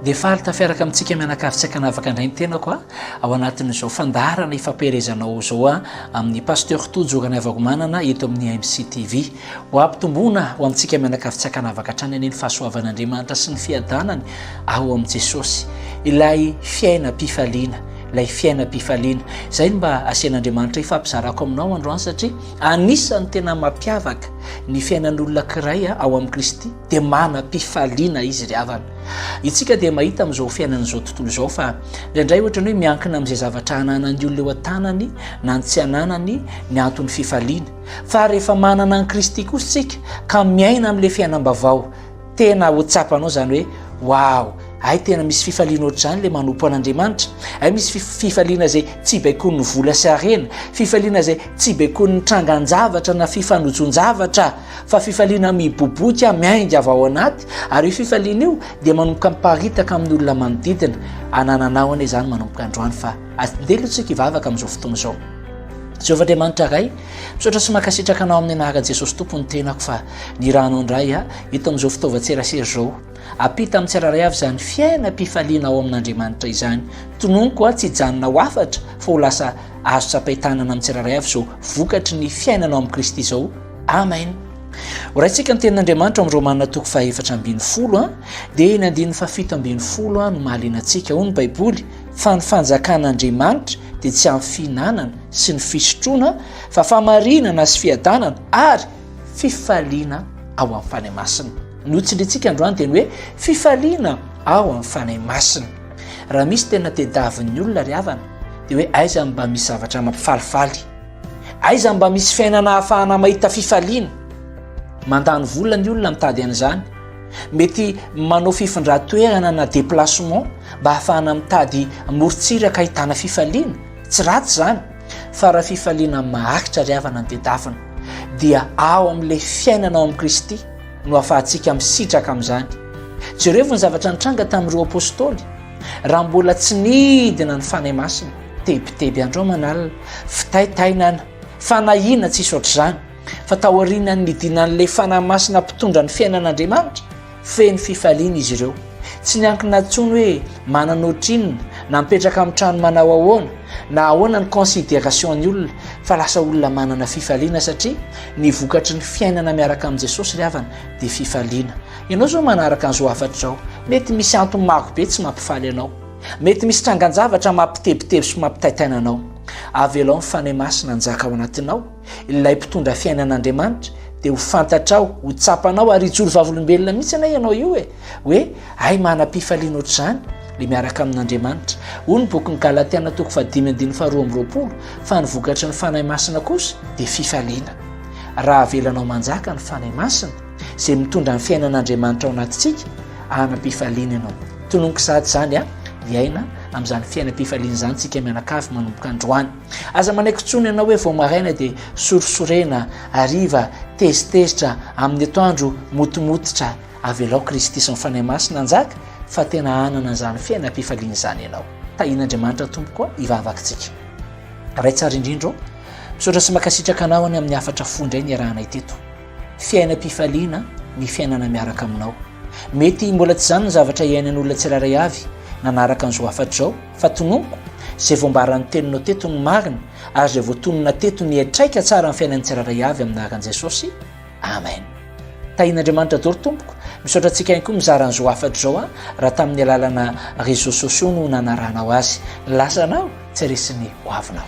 Dia faly tafiaraka amintsika mianakavy tsy ankanavaka indray ny tenako a ao anatin'izao fandaharana ifampielezanao izao a amin'ny pasteur Tojo Ranaivakomanana eto amin'ny AMC TV. Ho ampitomboana ho amintsika mianakavy tsy ankanavaka hatrany anie ny fahasoavan'Andriamanitra sy ny fiadanany ao amin'i Jesosy. Ilay fiainam-pifaliana, ilay fiainam-pifaliana. Izay no mba asian'Andriamanitra ifampizarako aminao androany satria anisan'ny tena mampiavaka ny fiainan'olona ankiray ao amin'i Kristy dia manam-pifaliana izy ry havana. Itsika dia mahita amin'izao fiainana izao tontolo izao fa indraindray ohatrany hoe miankina amin'izay zavatra ananan'ny olona eo an-tanany na ny tsy ananany ny anton'ny fifaliana. Fa rehefa manana an'i Kristy kosa isika ka miaina amin'ilay fiainam-bavao, tena ho tsapanao izany hoe wow, ay tena misy fifaliana ohatr'izany ilay manompo an'Andriamanitra, ay misy fifaliana izay tsy baikoin'ny vola sy harena, fifaliana izay tsy baikoin'ny trangan-javatra na fifanojon-javatra. fa fifaliana miboboika miainga avy ao anaty ary io fifaliana io dia manomboka miparitaka amin'ny olona manodidina anananao anie izany manomboka androany fa andeha aloha tsika hivavaka amin'izao fotoana izao Jehovah Andriamanitra Ray misaotra sy mankasitraka anao amin'ny anaran'i Jesosy Tompo ny tenako fa ny ranao indray a eto amin'izao fitaovan-tserasera izao apita amin'ny tsirairay avy izany fiainam-pifaliana ao amin'Andriamanitra izany tononiko a tsy hijanona ho afatra fa ho lasa azo tsapain-tanana amin'ny tsirairay avy izao vokatry ny fiainanao amin'i Kristy izao Amen. Horaintsika ny tenin'Andriamanitra ao amin'ny Romana toko fahefatra ambin'ny folo a dia eny andininy fahafito ambin'ny folo a no mahaliana antsika ho ny Baiboly fa ny fanjakan'Andriamanitra dia tsy amin'ny fihinanana sy ny fisotroana fa famarinana sy fiadanana ary fifaliana ao amin'ny Fanahy Masina. Ny hotsindrintsika androany dia ny hoe fifaliana ao amin'ny Fanahy Masina. Raha misy tena tedavin'ny olona ry havana dia hoe aiza mba misy zavatra mampifalifaly. Aiza no mba misy fiainana ahafahana mahita fifaliana? Mandany vola ny olona mitady an'izany. Mety manao fifindran-toerana na déplacement mba ahafahana mitady morontsiraka ahitana fifaliana. Tsy ratsy izany, fa raha fifaliana maharitra ry havana no tedafina, dia ao amin'ilay fiainana ao amin'i Kristy no ahafahantsika misitraka amin'izany. Jerevo ny zavatra nitranga tamin'ireo apostoly. Raha mbola tsy nidina ny Fanahy Masina, tebiteby andro aman'alina, fitaitaina ana, fanahiana tsisy ohatr'izany, fa taorianan'ny nidinan'ilay Fanahy Masina mpitondra ny fiainan'Andriamanitra, feno fifaliana izy ireo. Tsy niankina intsony hoe manana ohatrinona, na mipetraka amin'ny trano manao ahoana, na ahoana ny considération-ny olona, fa lasa olona manana fifaliana satria ny vokatry ny fiainana miaraka amin'i Jesosy ry havana dia fifaliana. Ianao izao manaraka an'izao hafatra izao, mety misy antony maro be tsy mampifaly anao. Mety misy trangan-javatra mampitebiteby sy mampitaitaina anao. Avelao ny Fanahy Masina hanjaka ao anatinao, ilay mpitondra fiainan'Andriamanitra, dia ho fantatrao, ho tsapanao, ary hijoro vavolombelona mihitsy anie ianao io e! hoe, Hay manam-pifaliana ohatr'izany le miaraka amin'Andriamanitra. Hoy ny bokin'ny Galatiana toko fahadimy andininy faharoa amby roapolo, fa ny vokatry ny Fanahy Masina kosa dia fifaliana. Raha avelanao manjaka ny Fanahy Masina, izay mitondra ny fiainan'Andriamanitra ao anatintsika hanam-pifaliana ianao. Tononiko sahady izany a, hiaina amin'izany fiainam-pifaliana izany tsika mianakavy manomboka androany. Aza manaiky intsony ianao hoe vao maraina dia sorisorena, hariva, tezitezitra amin'ny atoandro motomototra. Avelao Kristy sy ny Fanahy Masina hanjaka fa tena hanana izany fiainam-pifaliana izany ianao. Tahin'Andriamanitra tompoko hivavaka tsika. Ray tsara indrindra, misaotra sy makasitraka anao any amin'ny hafatra fohy indray niarahanay teto. Fiainam-pifaliana ny fiainana miaraka aminao. Mety mbola tsy izany ny zavatra iainan'olona tsirairay avy nanaraka an'izao hafatra izao, fa tononiko izay voambaran'ny teninao teto ny marina ary izay voatonona teto ny haitraika tsara ny fiainan'ny tsirairay avy amin'ny anaran'i Jesosy. Amen. Tahian'Andriamanitra doro tompoko. Misaotra antsika ihany koa mizara an'izao hafatra izao a raha tamin'ny alalana réseaux sociaux no nanarahanao azy. Ny lasanao tsy resin'ny hoavinao.